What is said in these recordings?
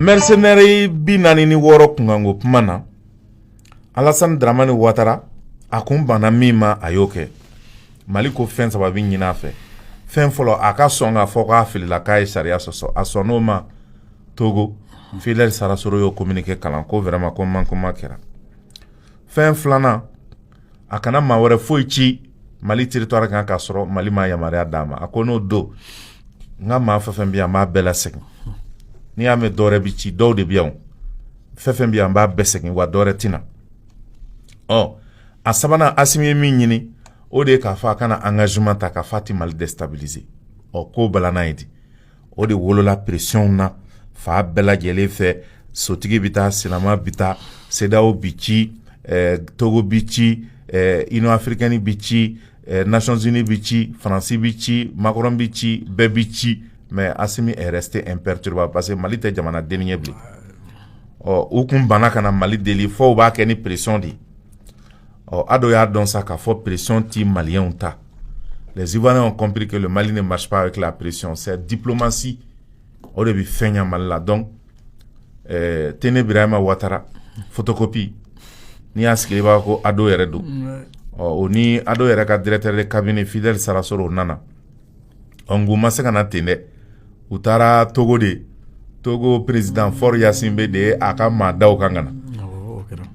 mɛrisenɛri bi naani ni wɔɔrɔ kunkanko kuma na alasani daramani watara a kun banna min ma a y'o kɛ mali ko fɛn saba bɛ ɲinin a fɛ fɛn fɔlɔ a ka sɔn k'a fɔ k'a filila k'a ye sariya sɔsɔ a sɔnn'o ma togo fidɛli sarasoro y'o kominike kalan ko wɛrɛma ko mankeman kɛra fɛn filanan a kana maa wɛrɛ foyi ci mali territoire kan k'a sɔrɔ mali ma yamaruya d'a ma a ko n'o don n ka maa fɛn fɛn bɛ yan n b'a bɛɛ lasegin n'i y'a mɛn dɔwɛrɛ bɛ ci dɔw de bɛ yan fɛn fɛn bɛ yan n b'a bɛɛ segin wa dɔwɛrɛ tɛ na ɔ a sabanan asimi ye min ɲini o de ye k'a fɔ a ka na engagement ta k'a fɔ a tɛ mali destabiliser ɔ k'o balanna ye di o de wolola pression na fan bɛɛ lajɛlen fɛ sotigi bɛ taa sennama bɛ taa CEDEAO bɛ ci togo bɛ ci union africaine bɛ ci nations unies bɛ ci faransi bɛ ci makɔrɔn bɛ ci bɛɛ bɛ ci mais asimi est resté imperturbable parce que mali tɛ jamana dennin ye bilen ɔ u tun banna ka na mali deli fo u b'a kɛ ni pression de ye ɔ ado y'a dɔn sa k'a fɔ pression tɛ maliyɛn ta Les Ivoiriens ont compris que le Mali ne marche pas avec la pression. C'est diplomatie. O de bɛ fɛn ɲa Mali la. Donc, euh, Téné Birahima Ouattara, photocopie. Ni a sigi b'a ko ado yɛrɛ don ɔ o ni ado yɛrɛ ka directeur de cabinet fidèle sarasoro u nana ɔ nk'u ma se ka na ten dɛ u taara togo de togo président Faure Gnassingbé de ye a kaman da u kan ka na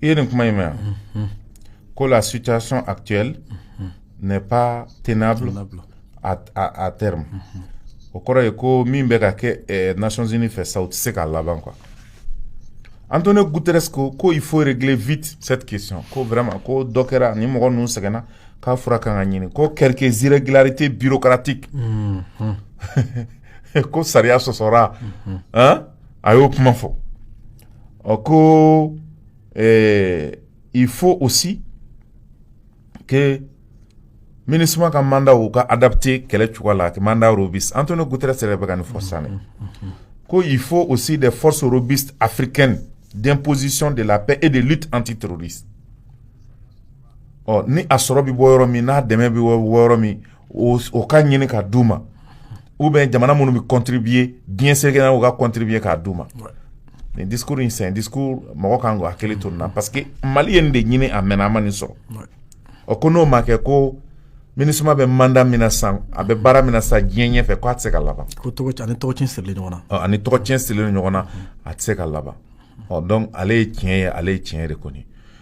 i ye nin kuma in mɛn ko la situation actuelle n'est pas tenable à, à, à terme o kɔrɔ ye ko min bɛ ka kɛ eh, nations unies fɛ sa o tɛ se ka laban quoi Antonio Guterres ko ko il faut régler vite cette question ko vraiment ko dɔ kɛra ni mɔgɔ ninnu sɛgɛnna k'a fura kan ka ɲini ko quelques irrégularités bureaucratiques ko sariya sɔsɔra a y'o kuma fɔ ɔ ko i fo o si ke mini suma ka manda u ka adate kɛlɛ cogoya la a manda bi an to ne gute sɛbɛn bɛ ka nin fɔ sanni ko i fo o si de fɔso bi afiri kɛnɛ den pɔosisi de la e de lu an tɛ todi ɔ ni a sɔrɔ bɛ bɔ yɔrɔ min n'a dɛmɛ bɛ wɔɔrɔ min o ka ɲini k'a d'u ma ou bien jamana minnu bɛ contribuer diɲɛ seleke na u ka contribuer k'a d'u ma nin discours in c'est un discours mɔgɔ kan k'i hakili to nin na parce que mali ye nin de ɲini a mɛnna a ma nin sɔrɔ ɔ ko n'o ma kɛ ko minisuma bɛ mandat min na sa a bɛ baara min na sa diɲɛ ɲɛ fɛ k' a tɛ se ka laban ko ani tɔgɔcɛn sirilen ɲɔgɔn na ani tɔgɔcɛn sirilen ɲɔgɔn na a tɛ se ka laban ɔ donc ale ye tiɲɛ ye ale ye tiɲɛ de kɔni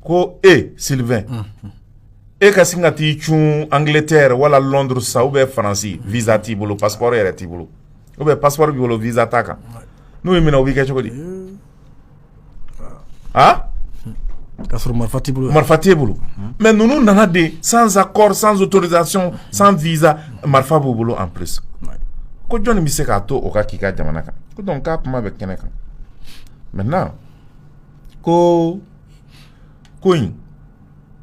ko e sylvain e ka sin ka t'i cun angleterre wala londres sa ou bien faransi visa t'i bolo passeport yɛrɛ t'i bolo ou bien passeport b'i bolo visa t'a kan n'u y'i minɛ o b'i kɛ cogo di a ka sɔrɔ marifa t'i bolo marifa t'e bolo mais ninnu nana de sans accord sans autorisation sans visa marifa b'u bolo en plus ko jɔnni bɛ se k'a to o ka k'i ka jamana kan ko donc k'a kuma bɛ kɛnɛ kan maintenant ko ko in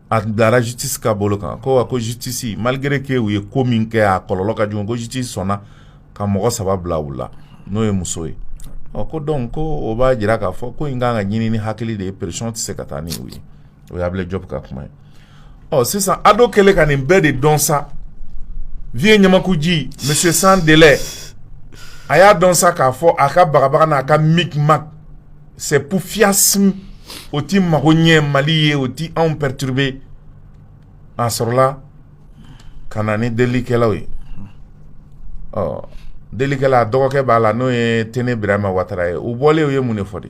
a bilara justice ka bolo kan quoi ko justice malgré que u ye ko min kɛ a kɔlɔlɔ ka jugu ko justice sɔnna ka mɔgɔ saba bila u la n'o ye muso ye ɔ ko donc ko o b'a jira k'a fɔ ko in kan ka ɲini ni hakili de ye pression tɛ se ka taa ni u ye o ye Abulayi Jɔpu ka kuma ye ɔ sisan ado kɛlen ka nin bɛɛ de dɔn sa vieux ɲamakuji monsieur sans délai a y'a dɔn sa k'a fɔ a ka bagabaga n'a ka micmac c'est pour fiasme o ti mago ɲɛ mali ye o ti anw perturber a sɔrɔla ka na ni delikɛlaw ye ɔ delikɛla a dɔgɔkɛ b'a la n'o ye tene birama watara ye u bɔlen u ye mun de fɔ de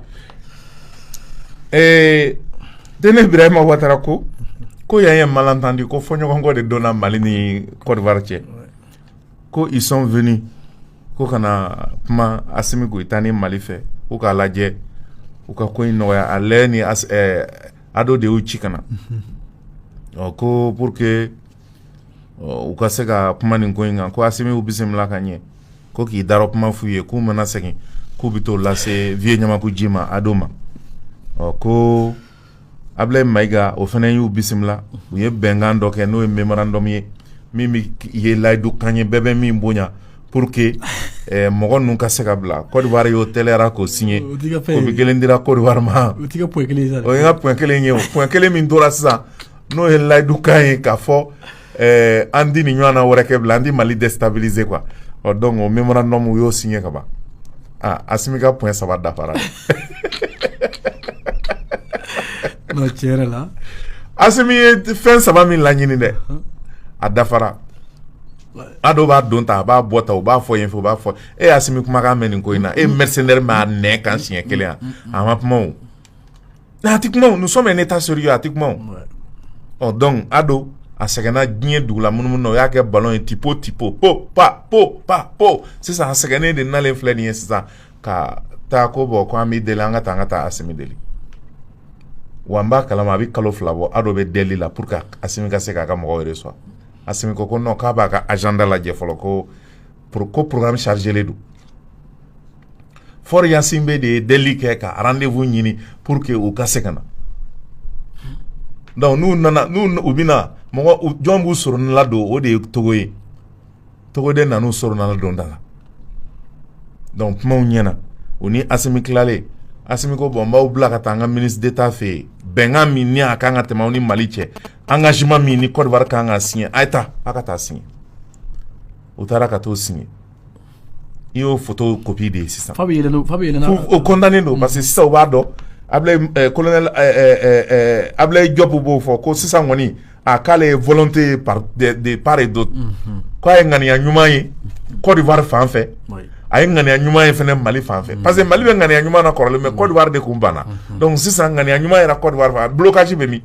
Tene birama watara ko ko y a un malentendu ko fɔɲɔgɔnkɔ de donna mali ni côte d'ivoire cɛ ko ils sont venus ko ka na kuma asimi goyita ni mali fɛ ko k'a lajɛ u ka ko in nɔgɔya ale ni ado de y'u ci ka na ɔ ko pour que u ka se ka kuma nin ko in kan ko asimi y'u bisimila ka ɲɛ ko k'i darɔ kuma f'u ye k'u mana segin k'u bɛ t'o lase vieux Ɲamakuji ma ado ma ɔ ko Abilayi Mayiga o fana y'u bisimila u ye bɛnkan dɔ kɛ n'o ye memorandum ye min bɛ ye layidu kan ye bɛɛ bɛ min bonya pour que ɛɛ mɔgɔ ninnu ka se ka bila Côte d'Ivoire y'o tɛliyara k'o signer o t'i ka fɛn ye kopi kelen dira Côte d'Ivoire ma o t'i ka point kelen ye sa dɛ o ye n ka point kelen ye o point kelen min tora sisan n'o ye layidu kan ye k'a fɔ ɛɛ an ti nin ɲɔgɔnna wɛrɛ kɛ bilen an ti mali déstabiliser quoi ɔ donc o memorandum u y'o signer ka ban aa asimi ka point saba dafara non tiɲɛ yɛrɛ la asimi ye fɛn saba min laɲini dɛ a dafara ado b'a don tan a b'a bɔ tan u b'a fɔ yen fɛ u b'a fɔ e y'asimi kumakan mɛn nin ko in na e mercenaire minɛ kan siɲɛ kelen yan a ma kuma o Mais a tɛ kuma nous sommes un état sérieux a tɛ kuma ɔ donc ado a sɛgɛnna diɲɛ dugu la munumunu na o y'a kɛ ballon ye tɛpo tɛpo po pa po pa po sisan a sɛgɛnnen de nalen filɛ nin ye sisan ka taa ko bon ko an bɛ deli an ka taa an ka taa asimi deli wa an b'a kalama a bɛ kalo fila bɔ ado bɛ deli la pour que asimi ka se k'a ka mɔgɔw recevoir asimi ko non k'a b'a ka agenda lajɛ fɔlɔ ko Pur ko porokan sarie don foroyasin bɛ de ye deli kɛ ka de ɲini pur que u ka se ka na dɔnku n'u nana n u bɛ na mɔgɔ jɔn b'u sɔrɔ nla don o de ye tɔgɔ ye tɔgɔ de nan sɔrɔ nana dɔn da la dɔnku kumaw ɲɛna u ni a tilalen ko bɔn n b'aw bila ka taa an ka mini de taa fɛ yen bɛnkan min a ka kan ka tɛmɛ ni mali cɛ an ka sima min ni kɔrɔ ka kan ka si a ye taa aw ka taa si u taara ka t'o signer i y'o photocopie de ye sisan fa o kɔntannen don parce que sisan u b'a dɔn Ablaye Diop b'o fɔ ko sisan kɔni a k'ale ye volonté de part et d'autre k'a ye ŋaniya ɲuman ye Côte d'Ivoire fan fɛ a ye ŋaniya ɲuman ye fɛnɛ Mali fan fɛ parce que Mali bɛ ŋaniya ɲuman na kɔrɔlen mais Côte d'Ivoire de kun banna donc sisan ŋaniya ɲuman yera Côte d'Ivoire fan blocage bɛ min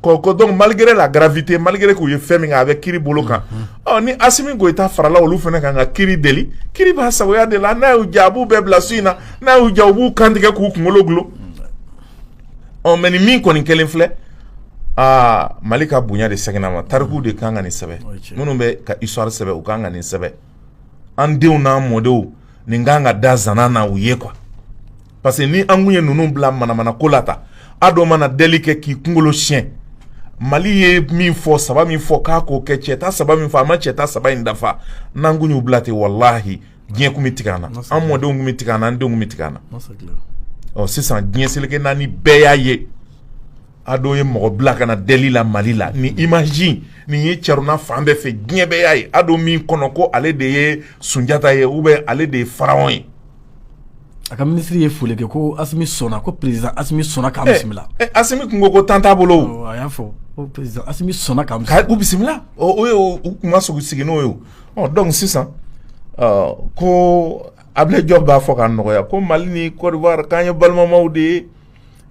ko donc malgré la gravité malgré k'u ye fɛn min kɛ a bɛ kiri bolo kan Ɔ ni Asimi Goïta farala olu fɛnɛ ka kan ka kiri deli kiri b'a sagoya de la n'a y'u ja a b'u bɛɛ bila su in na n'a y'u ja u b'u kantigɛ k'u kunkolo dulon ɔ mais nin min kɔni kelen filɛ aa mali ka bonya de seginn'a ma tariku de kan ka nin sɛbɛ minnu bɛ ka histoire sɛbɛ u kan ka nin sɛbɛ an denw n'an mɔdenw nin ka kan ka da zana na u ye quoi parce que ni an kun ye ninnu bila manamana ko la ta Ado mana deli kɛ k'i kunkolo siɲɛ mali ye min fɔ saba min fɔ k'a k'o kɛ cɛta saba min fɔ a ma cɛta saba in dafa n'an kun y'u bila ten walahi diɲɛ kun bɛ tigɛ an na an mɔdenw kun bɛ tigɛ an na an denw kun bɛ tigɛ an na ɔ sisan diɲɛ seleke naani bɛɛ y'a ye Ado ye mɔgɔ bila ka na deli la mali la ni image nin ye carona fan bɛɛ fɛ diɲɛ bɛɛ y'a ye Ado min kɔnɔ ko ale de ye sunjata ye ou bien ale de ye Pharaon ye A ka minisiri ye foli kɛ ko sɔnna ko pere sɔnna ka bisimila tun ko ko tan t'a bolo a y'a fɔ sɔnna ka u bisimila u tun ka sogo sigi n'o ye dɔn sisan ko a bɛ jɔ b'a fɔ ka nɔgɔya ko mali ni kɔɔriwa k'an ye balimama de ye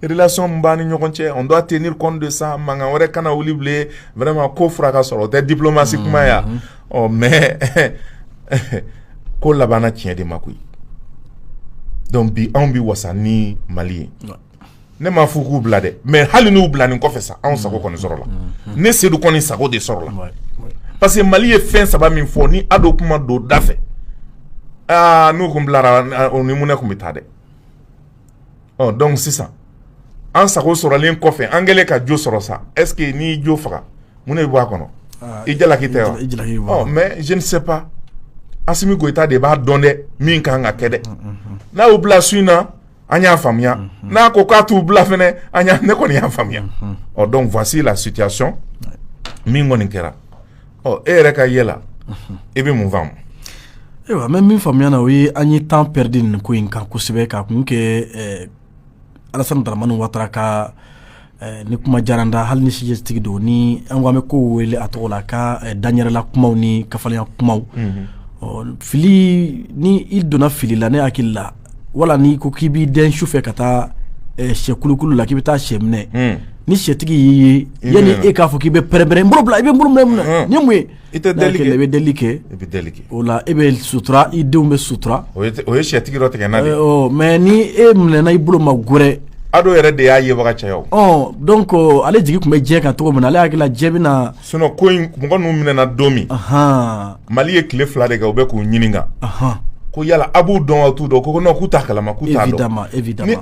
relation min b'an ni ɲɔgɔn cɛ on doit tenir compte de ça mankan wɛrɛ kana wuli bilen vraiment ko fura ka sɔrɔ o tɛ diplomatie kuma ya ɔ oh, mais ko labanna tiɲɛ de ma koyi donc bi anw bi wasa ni mali ye ne m'a fɔ k'u bila dɛ mais hali n'u bila nin kɔfɛ sa anw sago kɔni sɔrɔla mm-hmm. ne Seydou kɔni sago de sɔrɔla parce que mali ye fɛn saba min fɔ ni Ado kun ma don da fɛ aa ah, n'u kun bilara o ni mun ne kun bɛ taa dɛ ɔ donc sisan an sago sɔrɔlen kɔfɛ an kɛlen ka jo sɔrɔ sa est-ce que n'i jo faga mun ne bɛ bɔ a kɔnɔ ah, i jalaki tɛ wa mais je ne sais pas Asimi Goïta de b'a dɔn dɛ min ka kan ka kɛ dɛ mm, mm, mm. n'a y'u bila su in na an y'a faamuya n'a ko k'a t'u bila fɛnɛ an ne kɔni y'a faamuya ɔ donc voici la situation min kɔni kɛra ɔ e yɛrɛ ka yɛ la i bɛ mun faamu ayiwa mɛ min faamuya na o ye an ye temps perdu nin ko in kan kosɛbɛ ka kun kɛ eh, alasani daramani watara ka eh, nin kuma jaran da hali ni sijɛtigi don ni an ko an bɛ ko wele a tɔgɔ la a ka eh, danyɛrɛla kumaw ni kafalenya kumaw mhm. fili ni i donna fili la ne hakili la wala n'i ko k'i b'i dɛn su fɛ ka taa sɛkulukulu la k'i bɛ taa sɛ minɛ ni sɛtigi y'i ye yanni e k'a fɔ k'i bɛ pɛrɛnpɛrɛn n bolo bila i bɛ n bolo minɛ ni mun ye i tɛ deli i bɛ deli kɛ i bɛ deli kɛ o la e bɛ sutura i denw bɛ sutura o ye sɛtigi dɔ tigɛ na mais ni e minɛna i bolo ma gɛrɛ ado yɛrɛ de y'a yebaga caya donc ale jigi tun bɛ diɲɛ kan cogo min na ale hakili la diɲɛ bɛna Sinon ko in mɔgɔ ninnu minɛna don min mali ye tile fila de kɛ u bɛ k'u ɲininka ko yala a b'u dɔn wa a t'u dɔn ko k'u t'a kalama ni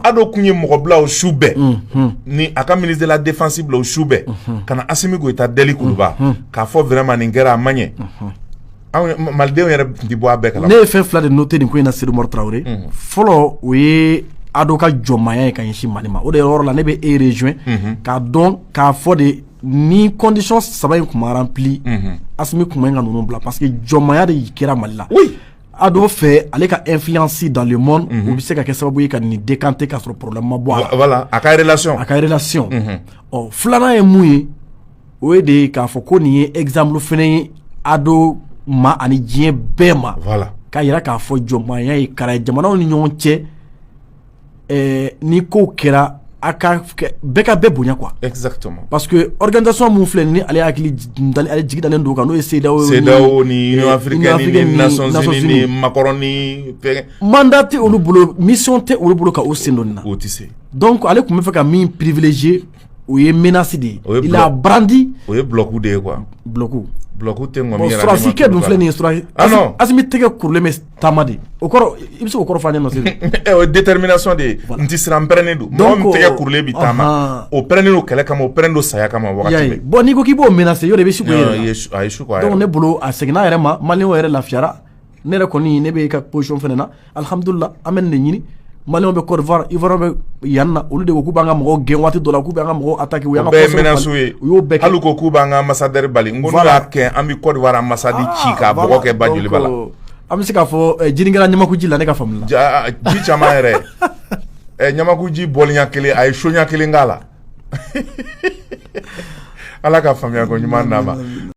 ado tun ye mɔgɔ bila su bɛɛ ni a ka ministre de la défense bila su bɛɛ ka na asimi goyita deli kuluba k'a fɔ vraiment nin kɛra a man ɲɛ malidenw yɛrɛ tun tɛ bɔ a bɛɛ kalama ne ye fɛn fila de noter nin ko in na sedu umaru tarawele fɔlɔ o ye ado ka jɔnmaya ye ka ɲɛsin mali ma o de yɔrɔ la ne bɛ e rejoint k'a dɔn k'a fɔ de ni condition saba in tun ma rempli asimi tun man ka ninnu bila parce que jɔnmaya de y'i kɛra mali la ado fɛ ale ka influence dans le monde o bɛ se ka kɛ sababu ye ka nin décanter k'a sɔrɔ problème ma bɔ a la voilà a ka relation filanan ye mun ye o ye de k'a fɔ ko nin ye exemple fɛnɛ ye ado ma ani diɲɛ bɛɛ ma k'a jira k'a fɔ jɔnmaya ye kara ye jamanaw ni ɲɔgɔn cɛ ni ko kɛra a bɛɛ ka bɛɛ bonya quoi parce que organisation min filɛ ni ale hakili jigi dalen don kan n'o ye cedeao mandat tɛ olu bolo mission tɛ olu bolo ka u sen don nin na o tɛ se donc ale tun bɛ fɛ ka min privilégier o ye menace de ye il a brandi o ye bloc de ye quoi bloc tɛ kɛ dun filɛ nin ye asimi tɛgɛ kurulen taama de o kɔrɔ i bɛ se k'o kɔrɔ fɔ an ɲɛna Sedu o ye détermination de ye n tɛ siran n pɛrɛnnen don mɔgɔ min tɛgɛ kurulen bɛ taama o pɛrɛnnen don kɛlɛ kama o pɛrɛnnen don saya kama wagati bɛɛ bon n'i ko k'i b'o menacer yɔrɔ i bɛ su k'o yɛrɛ la a ye su k'o yɛrɛ la donc ne bolo a seginna a yɛrɛ ma maliyɛnw yɛrɛ lafiyara ne yɛrɛ kɔni ne bɛ e ka position fana na alihamudulila an bɛ nin de ɲini Maliyɛnw bɛ côte d'ivoire ivoirien bɛ yan na olu de ko k'u b'an ka mɔgɔw gɛn waati dɔ la k'u b'an ka mɔgɔw attaquer o bɛɛ ye menace ye hali ko k'u b'an ka ambassadeur bali n ko n'u y'a kɛ an bɛ côte d'ivoire ambassade ci ka bɔgɔ kɛ ba joliba la an bɛ se k'a fɔ ji kɛla ɲamakuji la ne ka faamu la ji caman yɛrɛ ɛ ɲamakuji bɔli ɲɛ kelen a ye so ɲɛ kelen k'a la ala ka faamuya ko ɲuman d'a ma